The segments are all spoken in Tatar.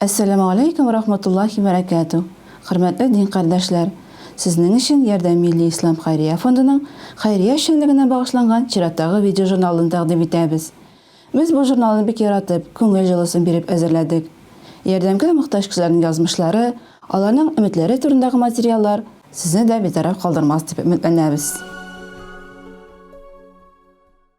Әссәламү алейкүм вә рахматуллахи вә рәкәтү! Хөрмәтле дин кардәшләр! Сезнең өчен Ярдәм милли ислам хәйрия фондының хәйрия эшчәнлегенә багышланган чираттагы видеожурналын тәкъдим итәбез. Без бу журналны бик яратып, күңел җылысын биреп әзерләдек. Ярдәмгә мохтаҗ кешеләрнең язмышлары, аларның өметләре турындагы материаллар сезне дә битараф калдырмас дип өметләнәбез.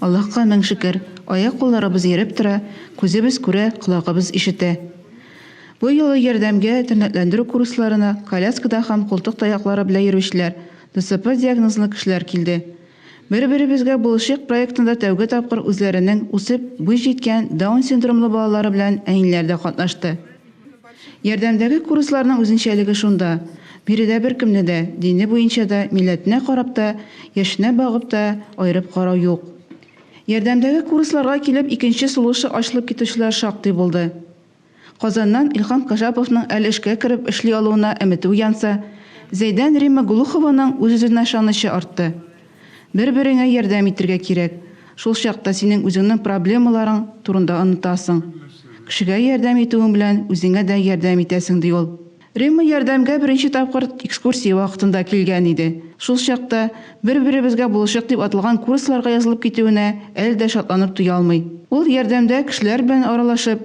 Аллаһка мең шөкер, аяк-кулларыбыз йөреп тора, күзебез күрә, колагыбыз ишетә. Бу юлы Ярдәмгә тернәкләндерү курсларына коляскада һәм култык таяклары белән йөрүчеләр, ДЦП диагнозлы кешеләр килде. Бер-беребезгә булышыйк проектында тәүге тапкыр үзләренең үсеп буй җиткән Даун синдромлы балалары белән әниләр дә катнашты. Ярдәмдәге курсларның үзенчәлеге шунда, биредә беркемне дә, дине буенча да, милләтенә карап та, яшенә багып та, аерып карау юк. Ярдәмдәге курсларга килеп икенче сулышы ачылып китүчеләр шактый булды. Казаннан Илһам Кашаповның әле эшкә кереп эшли алуына өметеү янса, Зәйдән Римма Глухованың үз-үзенә ышанычы артты. Бер-береңә ярдәм итергә кирәк. Шул чакта синең үзеңнең проблемаларың турында онытасың. Кешегә ярдәм итүең белән үзеңә дә ярдәм итәсең, ди ул. Римма ярдәмгә беренче тапкыр экскурсия вакытында килгән иде. Шул чакта Бер-беребезгә булышыйк дип аталган курсларга язылып китүенә әле дә шатланып туя алмый. Ул ярдәмдә кешеләр белән аралашып,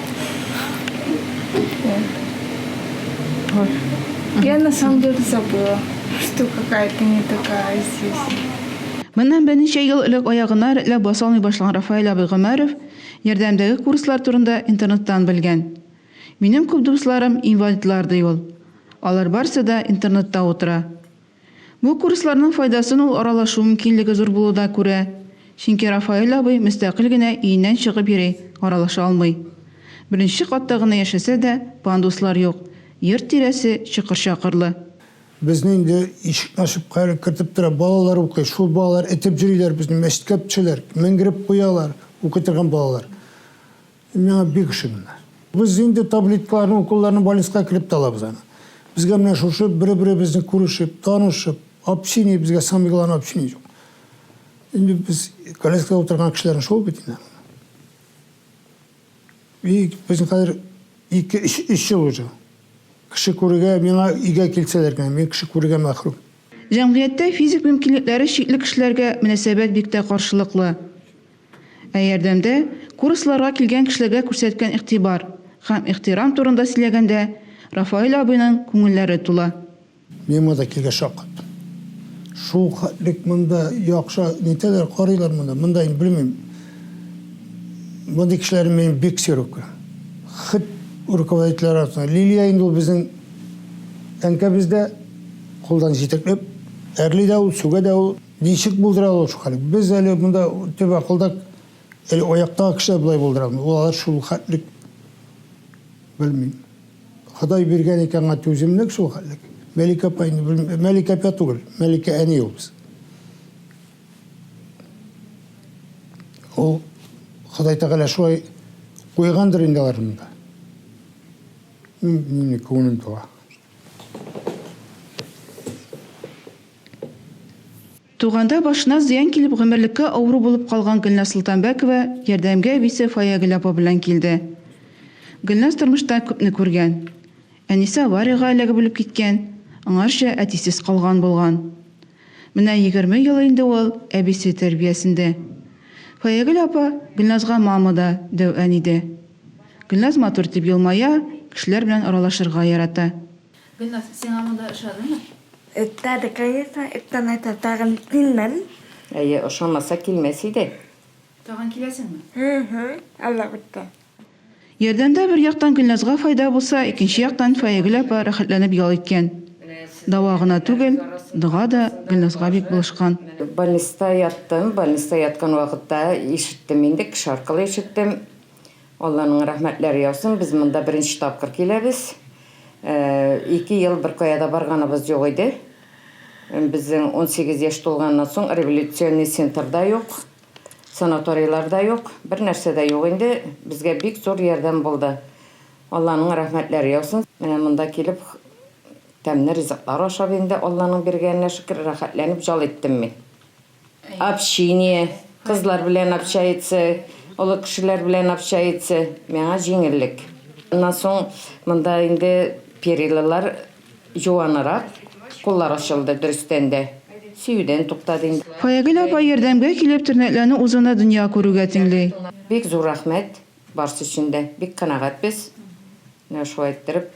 Вот. Я на самом деле забыла, что какая-то не такая здесь. Моннан берничә ел элек аягына рәтләп баса алмый башлаган Рафаэль абый Гомәров ярдәмдәге курслар турында интернеттан белгән. Минем күп дусларым инвалидлар, ди ул. Алар барсы да интернетта утыра. Бу курсларның файдасын ул аралашу мөмкинлеге зур булуда күрә. Чөнки Рафаэль абый мөстәкыйль генә өеннән чыгып йөри, аралаша алмый. Беренче катта гына яшәсә дә, пандуслар юк, йорт тирәсе чокыр-чакырлы. Безне инде ишекне ачып каерып кертеп тора, балалар укый, шул балалар этеп йөриләр безне, мәчеткә пчеләр, менгереп куялар, укый торган балалар. Миңа бик ышанганнар. Без инде таблеткаларны, уколларны больниска кереп тә алабыз аны. Безгә менә шушы бер-беребезне күрешеп, танышып, общение, безгә самое главное общение юк. Инде без коляскада утырган кешеләрне шул бит инде. И безнең хәзер 2-3 ел уже. Кеше күрергә, миңа өйгә килсәләр генә, мин кеше күрергә мәхрүм. Җәмгыятьтә физик мөмкинлекләре чикле кешеләргә мөнәсәбәт бик тә каршылыклы. Ә ярдәмдә курсларга килгән кешеләргә күрсәткән игътибар һәм ихтирам турында сөйләгәндә, Рафаэль абыйның күңелләре тула. Мин монда килгәч шаккат. Шул хәтлек монда яхшы нитәләр, карыйлар монда. Монда инде белмим. Мондый кешеләрне мин бик сирәк күрәм. Хет руководительләр арасында. Лилия инде ул безнең әнкәбез дә, кулдан җитәкләп, әрли дә ул, сүгә дә ул. Ничек булдыралар ул шул хәлне? Без әле монда төп акылда әле аяктагы кешеләр болай булдырамы? Ул алар шул хәтлек белмим. Ходай биргән икән аңа түземлек шул хәтлек. Мәликә апа инде белмим. Мәликә апа түгел. Мәликә әни ул без. Ул Ходай Тәгалә шулай куйгандыр инде алар монда. Мин күңелем туа. Туганда башына зыян килеп гомерлеккә авыру булып калган Гөлназ Солтанбәкова ярдәмгә Висе Фаягөл апа белән килде. Гөлназ тормышта күпне күргән. Әнисе авариягә эләгеп үлеп киткән, аңарча әтисез калган булган. Менә егерме ел инде ул әбисе тәрбиясендә. Фаягөл апа Гөлназга мама да, дәү әни дә. Гөлназ матур итеп елмая, кешеләр белән аралашырга ярата. Гөлназ, сиңа монда ошадымы? Ошады, конечно, эттән әйтә, тагын килмәм. Әйе, ошамаса килмәс иде. Тагын киләсеңме? Һы-һы, Алла кутта. Ярдәмдә бер яктан Гөлназга файда булса, икенче яктан Фаягөл апа рәхәтләнеп ял иткән. Дава гына түгел, дога да Гөлназга бик булышкан. Больниста яттым, больниста яткан вакытта ишеттем инде, кеше аркылы ишеттем. Алланың рәхмәтләре яусын, без монда беренче тапкыр киләбез. Ике ел беркая да барганыбыз юк иде. Безнең унсигез яшь тулганнан соң революционный центр да юк, санаторийлар да юк, бернәрсә дә юк инде. Безгә бик зур ярдәм булды. Алланың рәхмәтләре яусын. Менә монда килеп тәмле ризыклар ашап инде Алланың биргәненә шөкер, рәхәтләнеп җал иттем мин. Общение, кызлар белән общается, олы кешеләр белән общается, миңа җиңеллек. Аннан соң монда инде перилылар җуанырак, куллар ачылды дөрестән дә, сөюдән туктады инде. Фаягөл апа ярдәмгә килеп тернәкләнү узуны дөнья күрүгә тиңли. Бик зур рәхмәт барсы өчен дә, бик канәгатьбез, менә шулай иттереп.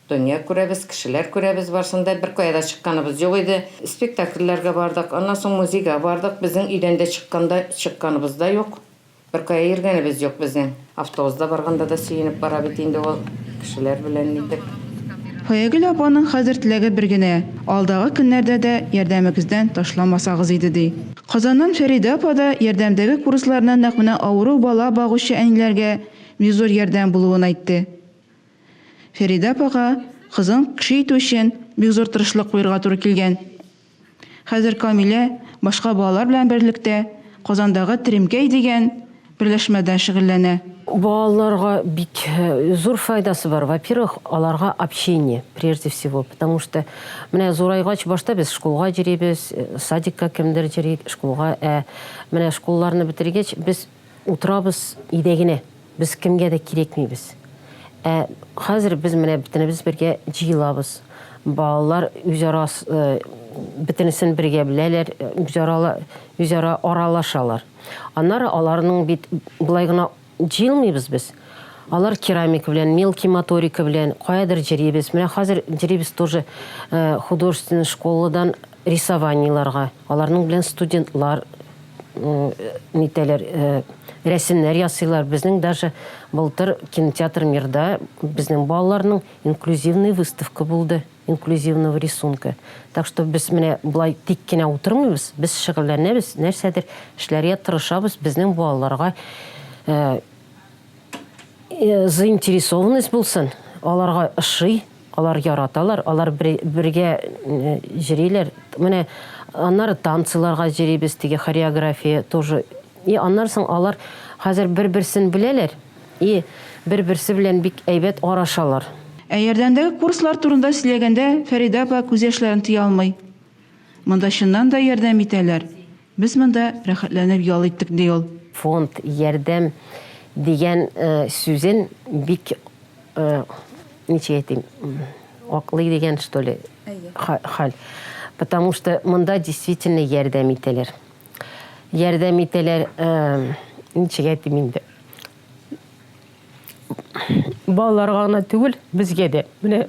Дөнья күрәбез, кешеләр күрәбез, барсын да беркая да чыкканыбыз юк иде. Спектакльләргә бардык, аннан соң музейга бардык, безнең өйдән дә чыкканда чыкканыбыз да юк, беркая йөргәнебез юк безнең. Автобузда барганда да сөенеп бара бит инде ул, кешеләр белән нитеп. Фаягөл апаның хәзер теләге бер генә, алдагы көннәрдә дә ярдәмегездән ташламасагыз иде, ди. Казаннан Фәридә апа да ярдәмдәге курсларны нәкъ менә авыру бала багучы әниләргә бик зур ярдәм булуын әйтте. Фәридә апага кызын кеше итү өчен бик зур тырышлык куерга туры килгән. Хәзер Камилә башка балалар белән берлектә Казандагы Теремкәй дигән берләшмәдә шөгыльләнә. Балаларга бик зур файдасы бар. Во-первых, аларга общение, прежде всего. Потому что менә зурайгач, башта без шкулга йөрибез, садикка кемдер йөри, шкулга. Ә менә шкулларны бетергәч, без. Утырабыз өйдә генә, без кемгә дә кирәкмибез. Ә хәзер без менә бөтенебез бергә җыелабыз. Балалар үзара бөтенесен бергә беләләр, үзара аралашалар. Аннары аларның бит болай гына җыелмыйбыз без. Алар керамика белән, мелкий моторика белән каядыр җөрибез. Менә хәзер җөрибез тоже художественный школадан рисованиеларга, аларның белән студентлар нитәләр, рәсемнәр ясыйлар. Безнең даже былтыр кинотеатр Мирда безнең балаларның инклюзивный выставка булды, инклюзивного рисунка. Так что без менә болай тик кенә утырмыйбыз, без шөгыльләнәбез, нәрсәдер эшләргә тырышабыз, безнең балаларга Э, заинтересованность булсын, аларга ошый, алар яраталар, алар бергә э, җриләр. Менә аннары танцларга җрибез, теге хореография тоже. И аннары соң алар хәзер бер-берсен беләләр и бер-берсе белән бик әйбәт арашалар. Ә ярдәмдәге курслар турында сөйләгәндә Фәридә апа күз яшьләрен тыя алмый. Монда чыннан да ярдәм итәләр. Без монда рәхәтләнеп ял иттек, ди ул. Фонд ярдәм дигән сүзен бик, ничек әйтим, аклый дигән что ли хәл. Потому что монда действительно ярдәм итәләр. Ярдәм итәләр, ничек әйтим инде, балаларга гына түгел, безгә дә. Менә.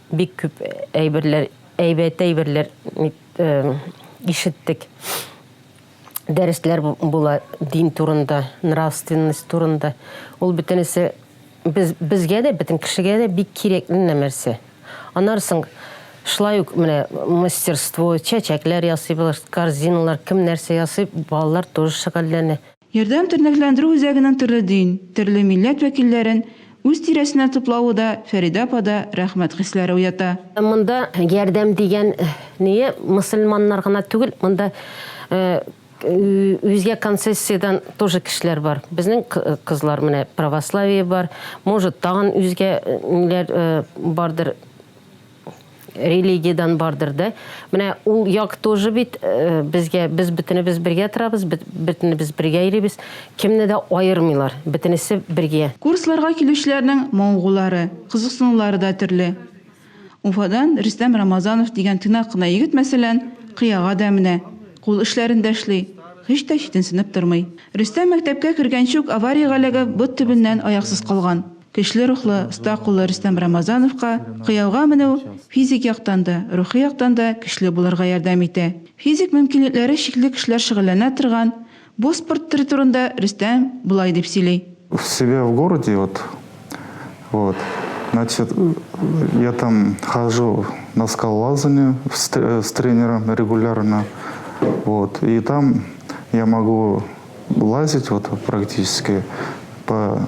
Бик күп әйберләр, әйбәт әйберләр ишеттек. Дәресләр була дин турында, нравственность турында. Ул бөтенесе без, безгә дә, бөтен кешегә дә бик кирәкле нәрсә. Аннары соң шулай ук менә мастерство, чәчәкләр ясыйбыз, корзиналар, кем нәрсә ясый, балалар тоже шөгыльләнә. Ярдәм тернәкләндерү үзәгенең төрле дин, төрле милләт вәкилләрен үз тирәсенә туплавы да Фәридә апада рәхмәт хисләре уята. Монда ярдәм дигән ние мөселманнар гына түгел, монда үзгә концессиядән тоже кешеләр бар. Безнең кызлар менә православие бар, может тагын үзгә ниләр бардыр. религиядән бардыр да. Менә ул як тоже бит э, безгә без бөтенебез бергә торабыз, бөтенебез бергә йөрибез. Кемне дә аермыйлар, бөтенесе бергә. Курсларга килүчеләрнең моңгулары, кызыксынулары да төрле. Уфадан Рөстәм Рамазанов дигән тыйнак кына егет, мәсәлән, кыяга да менә, кул эшләрен дә эшли, һич тә читенсенеп тормый. Рөстәм мәктәпкә кергәнче үк авариягә эләгеп, бот төбеннән аяксыз калган. Көчле рухлы, оста куллы Рөстәм Рамазановка кыяуга менү физик яктан да, рухи яктан да көчле булырга ярдәм итә. Физик мөмкинлекләре чикле кешеләр шөгыльләнә торган бу спорт төре турында Рөстәм болай дип сөйли. В себя в городе вот вот значит я там хожу на скалолазание с тренером регулярно вот и там я могу лазить вот практически по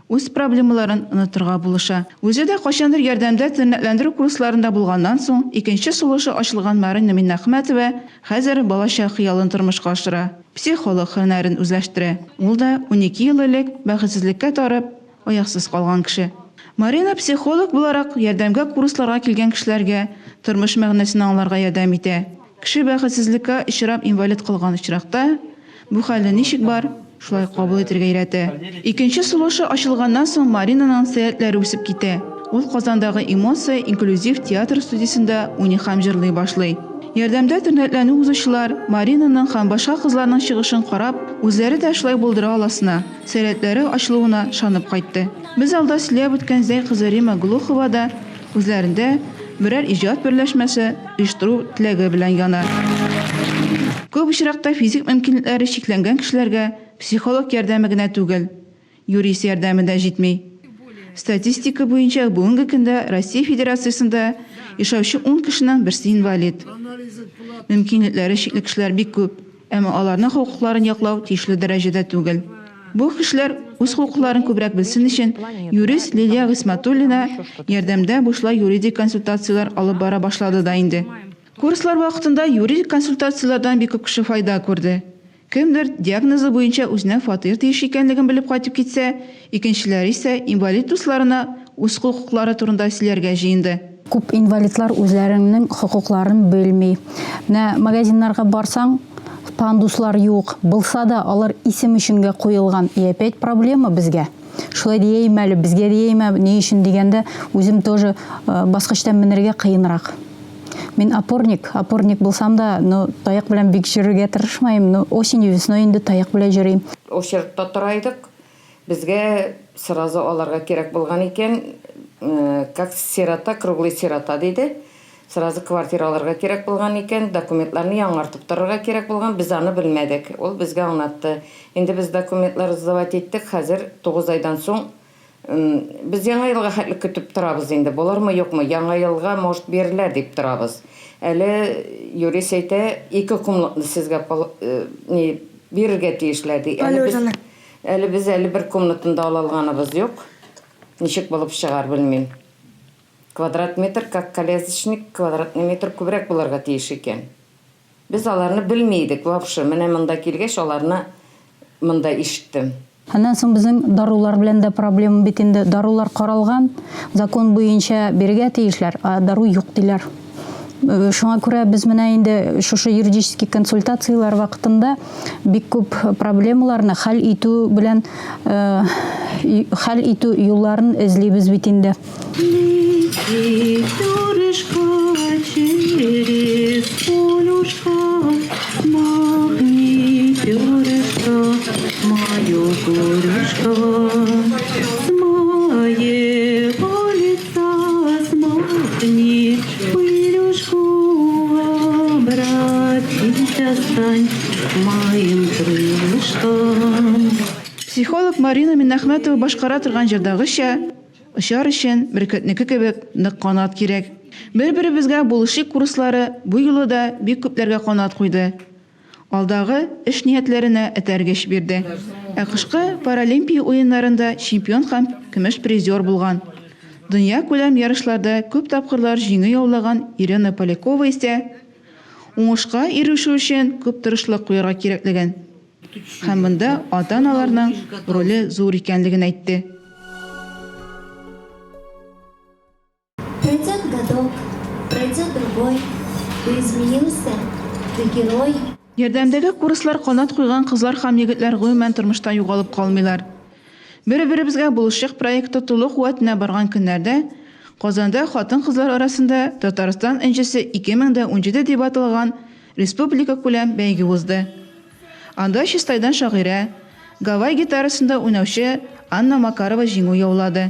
үз проблемаларын онытырга булыша. Үзе дә кайчандыр Ярдәмдә тернәкләндерү курсларында булганнан соң, икенче сулышы ачылган Марина Миннәхмәтова хәзер балачак хыялын тормышка ашыра, психолог һөнәрен үзләштерә. Ул да унике ел элек бәхетсезлеккә тарып, аяксыз калган кеше. Марина психолог буларак Ярдәмгә курсларга килгән кешеләргә тормыш мәгънәсен аңларга ярдәм итә. Кеше бәхетсезлеккә очрап инвалид калган очракта, бу хәлне ничек бар, шулай кабул итәргә өйрәтә. Икенче сулышы ачылганнан соң Маринаның сәләтләре үсеп китә. Ул Казандагы Эмоция инклюзив театр студиясендә уйный һәм җырлый башлый. Ярдәмдә тернәкләнү узучылар Маринаның һәм башка кызларның чыгышын карап, үзләре дә шулай булдыра аласына, сәләтләре ачылуына ышанып кайтты. Без алда сөйләп үткән Зәй кызы Рима Глухова да Күзләрендә берәр иҗат берләшмәсе оештыру теләге белән яна. Күп очракта физик мөмкинлекләре чикләнгән кешеләргә психолог ярдәме генә түгел, юрист ярдәме дә җитми. Статистика буенча бүгенге көндә Россия Федерациясендә яшәүче ун кешенең берсе инвалид. Мөмкинлекләре чикле кешеләр бик күп. Әмма аларның хокукларын яклау тиешле дәрәҗәдә түгел. Бу кешеләр үз хокукларын күбрәк белсен өчен, юрист Лилия Гыйсмәтуллина ярдәмдә бушлай юридик консультацияләр алып бара башлады да инде. Курслар вакытында юридик консультацияләрдән бик күп кеше файда күрде. Кемдер диагнозы буенча үзенә фатир тиеш икәнлеген белеп кайтып китсә, Икенчеләр исә инвалид дусларына үз хокуклары турында сөйләргә җыенды. Күп инвалидлар үзләреңнең хокукларын белми. Менә магазиннарга барсаң, пандуслар юк, булса да, алар исем өчен гә куелган. И опять проблема безгә? Шулай дияйме әле, безгә дияйме, ни өчен дигәндә, үзем тоже баскычтан менергә кыенрак. Мин опорник, опорник булсам да, ну, таяк белән бик йөрергә тырышмыйм, ну, осенью, весной инде таяк белән йөрим. Очередьта тора идек, Безгә сразу аларга кирәк булган икән, как сирота, круглый сирота диде. Сразу квартира алырга кирәк булган икән, документларны яңартып торырга кирәк булган, без аны белмәдек. Ул безгә аңлатты. Инде без документлар сдавать иттек, хәзер тугыз айдан соң Без Яңа елга хәтле көтеп торабыз инде, булырмы, юкмы, Яңа елга, может, бирерләр дип торабыз. Әле юрист әйтә, ике комнатны сезгә пол, ни, бирергә тиешләр, ди. Әле без. Әле без әле бер комнатаны да ала алганыбыз юк. Ничек булып чыгар, белмим. Квадрат метр, как колязочник, квадратный метр күбрәк булырга тиеш икән. Без аларны белми идек вообще, менә монда килгәч аларны монда ишеттем. Аннан соң безнең дарулар белән дә проблема бит инде. Дарулар каралган, закон буенча бирергә тиешләр, ә дару юк диләр. Э, шуңа күрә без менә инде шушы юридический консультацияләр вакытында бик күп проблемаларны хәл итү белән э, хәл итү юлларын эзлибез бит инде. Мое горюшка, Психолог Марина Минахмәтова башкара торган җырдагыча, очар өчен бөркетнеке кебек нык канат кирәк. Бер-беребезгә булышыйк курслары бу юлы да бик күпләргә канат куйды. алдагы эш ниятләренә этәргеч бирде. Ә кышкы Паралимпия уеннарында чемпион һәм көмеш призер булган, дөньякүләм ярышларда күп тапкырлар җиңү яулаган Ирина Полякова исә уңышка ирешү өчен күп тырышлык куярга кирәклеген һәм монда ата-аналарның роле зур икәнлеген әйтте. Пройдет годок, пройдет другой, ты изменился, ты герой. Ярдәмдәге курслар канат куйган кызлар һәм егетләр гомумән тормышта югалып калмыйлар. Бер-беребезгә булышыйк проекты тулы куәтенә барган көннәрдә Казанда хатын-кызлар арасында Татарстан энҗесе 2017 дип аталган республикакүләм бәйге узды. Анда Чистайдан шагыйрә, гавай гитарасында уйнаучы Анна Макарова җиңү яулады.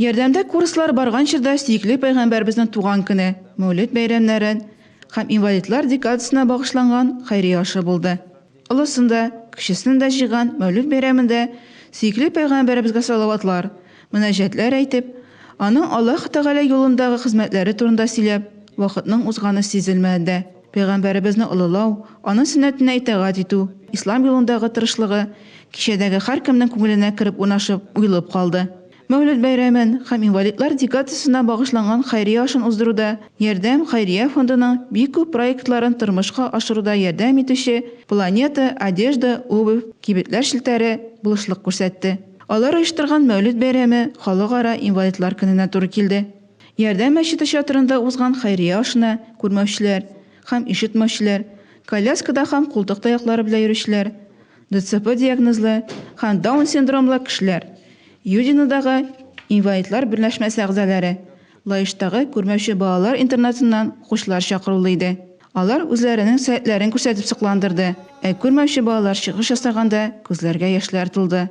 Ярдәмдә курслар барган чорда сөекле Пәйгамбәребезнең туган көне, Мәүлет бәйрәмнәрен һәм инвалидлар декадасына багышланган хәйрия ашы булды. Олысын да, кечесен дә җыйган Мәүлет бәйрәмендә сөекле Пәйгамбәребезгә салаватлар, мөнәҗәтләр әйтеп, аның Аллаһы Тәгалә юлындагы хезмәтләре турында сөйләп, вакытның узганы сизелмәде. Пәйгамбәребезне олылау, аның сөннәтенә итагать итү, ислам юлындагы тырышлыгы кичәдәге һәркемнең күңеленә кереп урнашып, уелып калды. Мәүлет бәйрәмен һәм инвалидлар декадасына багышланган хәйрия ашын уздыруда Ярдәм хәйрия фондының бик күп проектларын тормышка ашыруда ярдәм итүче Планета, Одежда, Обувь, Кибетләр челтәре, булышлык күрсәтте. Алар оештырган Мәүлет бәйрәме Халыкара инвалидлар көненә туры килде. Ярдәм мәчете чатырында узган хәйрия ашына күрмәүчеләр һәм ишетмәүчеләр, коляскада һәм култык таяклары белән йөрүчеләр, ДЦП диагнозлы һәм Даун синдромлы кешеләр, Юдинодагы инвалидлар берләшмәсе әгъзалары, Лаештагы күрмәүче балалар интернатыннан укучылар чакырулы иде. Алар үзләренең сәятләрен күрсәтеп сокландырды, ә күрмәүче балалар чыгыш ясаганда күзләргә яшьләр тулды.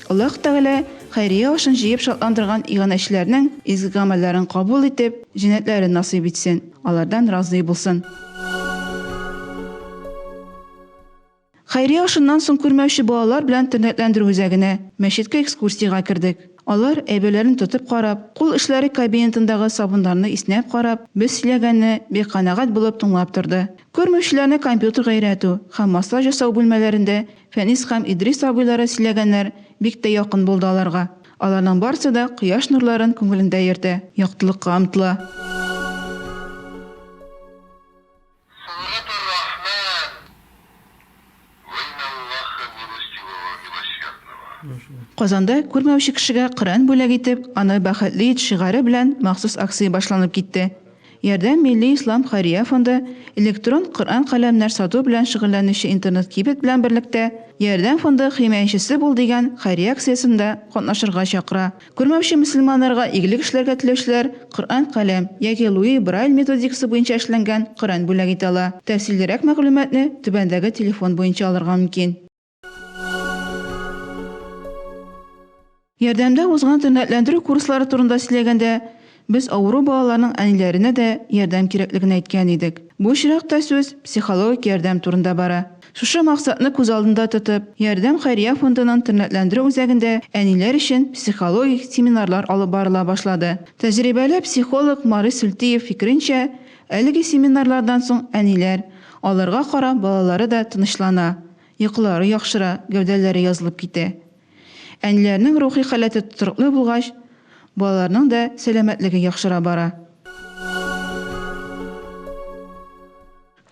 Аллаһ Тәгалә хәйрия ашын җыеп шатландырган иганәчеләрнең изге гамәлләрен кабул итеп, җәннәтләрен насыйп итсен, алардан разый булсын. Хәйрия ашыннан соң күрмәүче балалар белән тернәкләндерү үзәгенә, мәчеткә экскурсиягә кердек. Алар, әйберләрен тотып карап, кул эшләре кабинетындагы сабыннарны иснәп карап, без сөйләгәнне бик канәгать булып тыңлап торды. Күрмәүчеләрне компьютерга өйрәтү һәм массаж ясау бүлмәләрендә Фәнис һәм Идрис абыйлары сөйләгәннәр бик тә якын булды аларга. Аларның барсы да кояш нурларын күңелендә йөртә, яктылыкка омтыла. Сөнгат ар-Рахман! Вейналлаха милостивого милосердного! Казанда күрмәүче кешегә Коръән бүләк итеп, аны бәхетле ит шигаре белән махсус акция башланып китте. Ярдәм милли ислам хәйрия фонды электрон Коръән каләмнәр сату белән шөгыльләнүче интернет-кибет белән берлектә Ярдәм фонды химаячесе бул дигән хәйрия акциясендә катнашырга чакыра. Күрмәүче мөселманнарга игелек эшләргә теләүчеләр Коръән каләм яки Луи Брайль методикасы буенча эшләнгән Коръән бүләк итә ала. Тәфсиллерәк мәгълүматны түбәндәге телефон буенча алырга мөмкин. Ярдәмдә узган тернәкләндерү курслары турында сөйләгәндә, Без авыру балаларның әниләренә дә ярдәм кирәклеген әйткән идек. Бу очракта сүз психологик ярдәм турында бара. Шушы максатны күз алдында тотып, Ярдәм хәйрия фондының тернәкләндерү үзәгендә әниләр өчен психологик семинарлар алып барыла башлады. Тәҗрибәле психолог Марис Сөлтиев фикеренчә, әлеге семинарлардан соң әниләр, аларга карап балалары да тынычлана, йокылары яхшыра, гәүдәләре язылып китә. Әниләрнең рухи халәте тотрыклы булгач, балаларның да сәламәтлеге яхшыра бара.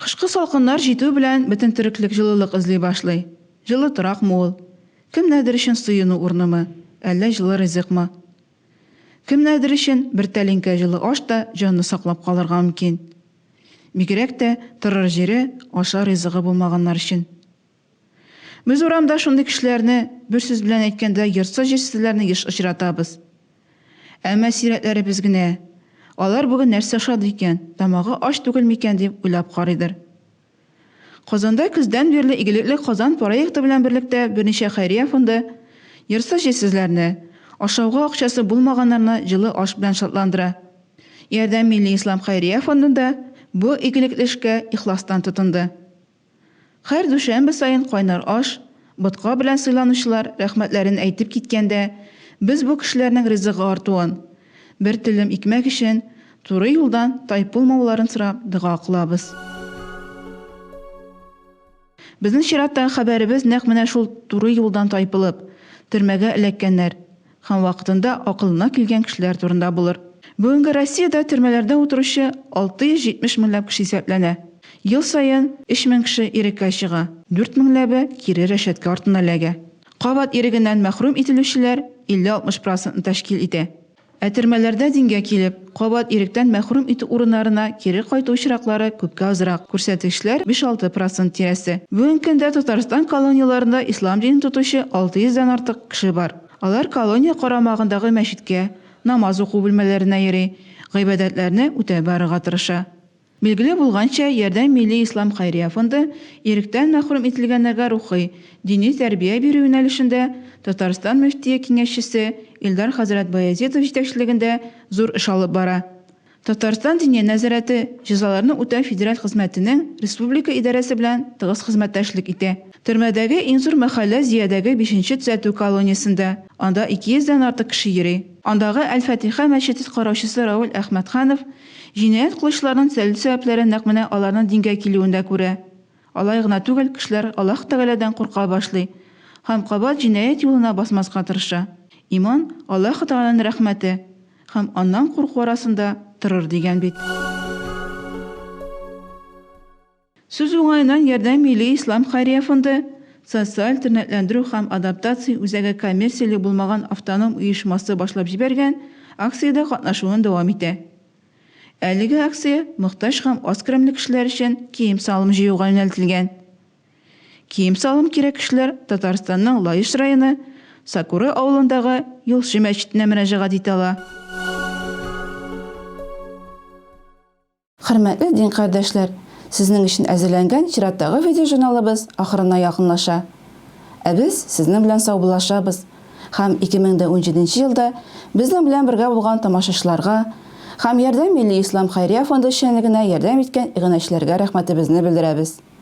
Кышкы салкыннар җитү белән бөтен тереклек җылылык эзли башлый. Җылы торакмы ул? Кемнәрдер өчен сыену урынымы, әллә җылы ризыкмы? Кемнәрдер өчен бер тәлинкә җылы аш та җанны саклап калырга мөмкин. Бигрәк тә торыр җире, ашар ризыгы булмаганнар өчен. Без урамда шундый кешеләрне, бер сүз белән әйткәндә, йортсыз-җирсезләрне еш очратабыз. Әмма сирәкләребез генә, алар бүген нәрсә ошады икән, тамагы ач түгел микән дип уйлап карыйдыр. Казанда көздән бирле Игелекле Казан проекты белән берлектә берничә хәйрия фонды йортсыз-җирсезләрне, ашауга акчасы булмаганнарны җылы аш белән шатландыра. Ярдәм милли ислам хәйрия фондында бу игелекле эшкә ихластан тотынды. Хәр дүшәмбе саен кайнар аш, ботка белән сыйланучылар рәхмәтләрен әйтеп киткәндә, без бу кешеләрнең ризыгы артуын, бер телем икмәк өчен туры юлдан тайпылмауларын сорап дога кылабыз. Безнең чираттагы хәбәребез нәкъ менә шул туры юлдан тайпылып, төрмәгә эләккәннәр, Һәм вакытында акылына килгән кешеләр турында булыр. Бүгенге Россиядә төрмәләрдә утыручы 670 меңләп кеше исәпләнә. Ел саен 3 мең кеше иреккә чыга, дүрт меңләбе кире рәшәткә артына эләгә. Кабат ирегеннән мәхрүм ителүчеләр 50-60 процентны тәшкил итә. Ә төрмәләрдә дингә килеп, кабат иректән мәхрүм итү урыннарына кире кайту очраклары күпкә азрак, күрсәткечләр биш-алты процент тирәсе. Бүгенге көндә Татарстан колонияләрендә ислам динен тотучы 600 дән артык кеше бар. Алар колония карамагындагы мәчеткә, намаз уку бүлмәләренә йөри, гыйбадәтләрне үтәп барырга тырыша. Билгеле булганча, Ярдәм милли ислам хәйрия фонды иректән мәхрүм ителгәннәргә рухи, дини тәрбия бирү юнәлешендә Татарстан мөфтие киңәшчесе Илдар хәзрәт Баязитов җитәкчелегендә зур эш алып бара. Татарстан Диния нәзарәте җәзаларны үтәү федераль хезмәтенең республика идарәсе белән тыгыз хезмәттәшлек итә. Төрмәдәге иң зур мәхәллә Зөядәге бишенче төзәтү колониясендә, анда 200 дән артык кеше йөри. Андагы Әл-Фатиха мәчетет караучысы Рауль Әхмәтханов җинаять кылучыларның төзәлү сәбәпләрен нәкъ менә аларның дингә килүендә күрә. Алай гына түгел, кешеләр Аллаһ Тәгаләдән курка башлый һәм кабат җинаять юлына басмаска тырыша. Иман, Аллаһ Тәгаләнең рәхмәте. Һәм аннан курку арасында торыр дигән бит. Сүз уңаеннан, Ярдәм милли ислам хәйрия фонды, Социаль тернәкләндерү һәм адаптация үзәге коммерцияле булмаган автоном оешмасы башлап җибәргән акциядә катнашуын дәвам итә. Әлеге акция мохтаҗ һәм аз керемле кешеләр өчен кием-салым җыюга юнәлтелгән. Кием-салым кирәк кешеләр Татарстанның Лаеш районы Сакуры авылындагы Юлчы мәчетенә мөрәҗәгать итә ала. Хөрмәтле дин кардәшләр, сезнең өчен әзерләнгән чираттагы видеожурналыбыз ахырына якынлаша. Ә без сезнең белән саубуллашабыз һәм 2017 нче елда безнең белән бергә булган тамашачыларга һәм Ярдәм милли ислам хәйрия фонды эшчәнлегенә ярдәм иткән иганәчеләргә рәхмәтебезне белдерәбез.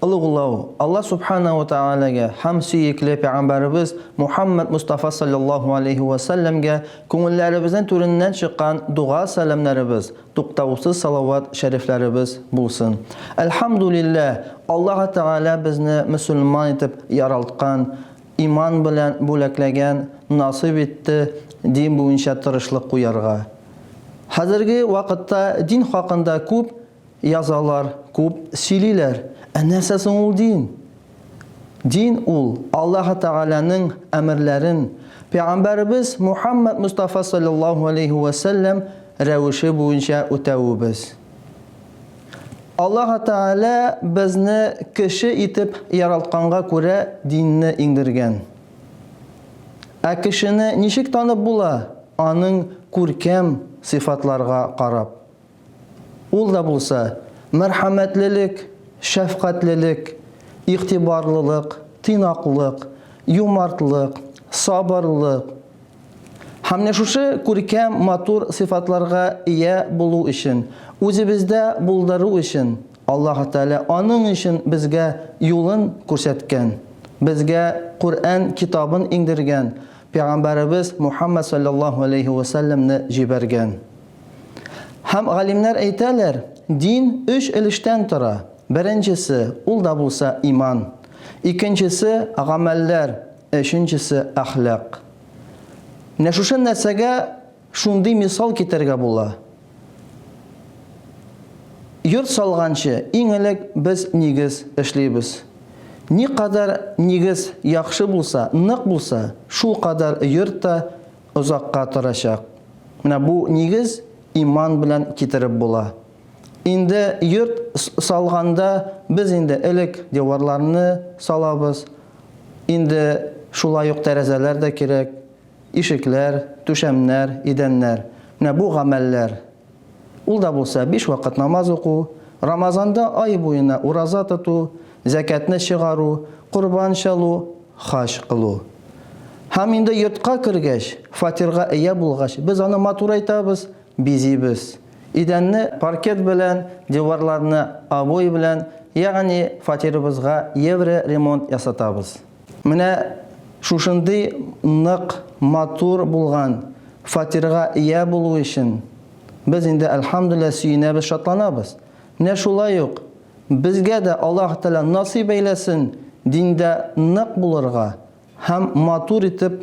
Олуглау, Алла Субхана ва Тәгаләгә һәм сөекле Пәйгамбәребез Мухаммәд Мостафа салләллаһу алейһи вә сәлләмгә күңелләребезнең түреннән чыккан дога-сәламнәребез, туктаусыз салават-шәрифләребез булсын. Әлхәмдүлилләһ, Аллаһы Тәгалә безне мөселман итеп яралткан, иман белән бүләкләгән, насыйп итте дин буенча тырышлык куярга. Хәзерге вакытта дин хакында күп Язалар, күп сөйлиләр. Ә нәрсә соң ул дин? Дин ул, Аллаһы Тәгаләнең әмерләрен пәйгамбәребез Мухаммәд Мостафа салләллаһу алейһи вә сәлләм рәвеше буенча үтәвебез. Аллаһы Тәгалә безне кеше итеп яралтканга күрә динне иңдергән. Ә кешене ничек танып була? Аның күркәм сыйфатларга карап. Ул да булса, мәрхәмәтлелек, шәфкатьлелек, игътибарлылык, тыйнаклык, юмартлык, сабырлык һәм менә шушы күркәм, матур сыйфатларга ия булу өчен, үзебездә булдыру өчен Аллаһ Тәгалә аның өчен безгә юлын күрсәткән, безгә Коръән китабын иңдергән, пәйгамбәребез Мухаммәд салләллаһу галәйһи вә сәлләмне җибәргән. Һәм галимнәр әйтәләр, дин өч өлештән тора, беренчесе, ул да булса иман, икенчесе, гамәлләр, өченчесе, әхлак. Менә шушы нәрсәгә шундый мисал китерергә була. Йорт салганчы, иң элек без нигез эшлибез. Никадәр нигез яхшы булса, нык булса, шулкадәр йорт та озакка торачак. Менә бу нигез иман белән китереп була. Инде йорт салганда без инде элек диварларны салабыз. Инде шулай ук тәрәзәләр дә кирәк, ишекләр, түшәмнәр, идәннәр. Менә бу гамәлләр Ул да булса биш вакыт намаз уку, Рамазанда ай буена ураза тоту, зәкятне чыгару, корбан чалу, хаҗ кылу. Һәм инде йортка кергәч, фатирга ия булгач, без аны матурайтабыз, бизибез. Идәнне паркет белән, диварларны обой белән, ягъни фатирыбызга евро ремонт ясатабыз. Менә шушындый нык, матур булган фатирга ия булу өчен без инде, әлхәмдүлилләһ, сөенәбез, шатланабыз. Менә шулай ук безгә дә Аллаһ Тәгалә насыйп әйләсен диндә нык булырга һәм матур итеп